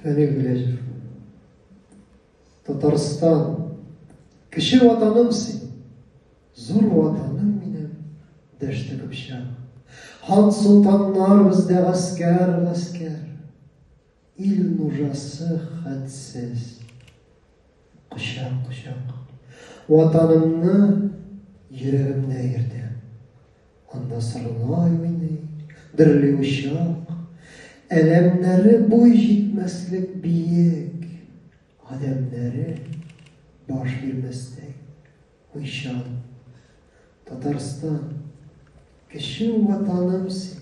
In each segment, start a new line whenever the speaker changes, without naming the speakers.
Фәнил Гөләҗев. Татарстан. Кеше ватаным син. Зур ватаным минем. Дәште көпшәк. Хан солтаннар бездә гаскәр, гаскәр. Ил нужасы хәтсез. Кочак, кочак. Ватанымны йөрәгемдә йөртә. Анда сарылай уйный, дөрли учак. Әләмнәре буй җитмәслек биек. Адәмнәре баш бирмәстәй. Уйчан. Татарстан. Кеше ватаным син.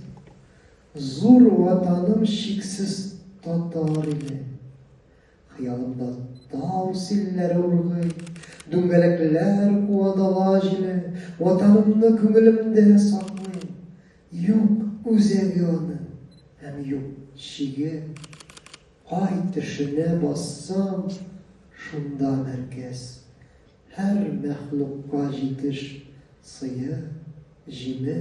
Зур ватаным шиксез татар иле. Хыялымда тау силләре ургый, Дүңгәләкләр куа дала җиле, Ватанымны күңелемдә саклыйм, Юк үзәге аның һәм юк чиге. Кай төшенә бассам, шунда мәркәз. Һәр мәхлукка җитеш сые, җиме.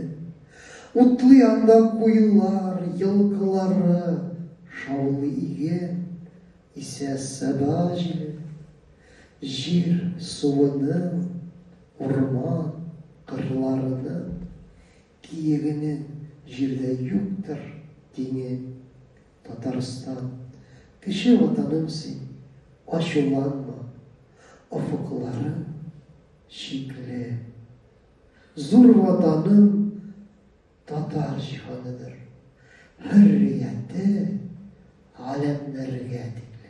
Утлы янда куюлар, елкылары, Шаулый иге, исә саба җиле. Җир суының, урман, кырларының, Киегенең җирдә юктыр тиңе. Татарстан, кече ватаным син, ачуланма, офыкларың чикле. Зур ватаным татар җиһаныдыр, хөррияте галәмнәргә тикле.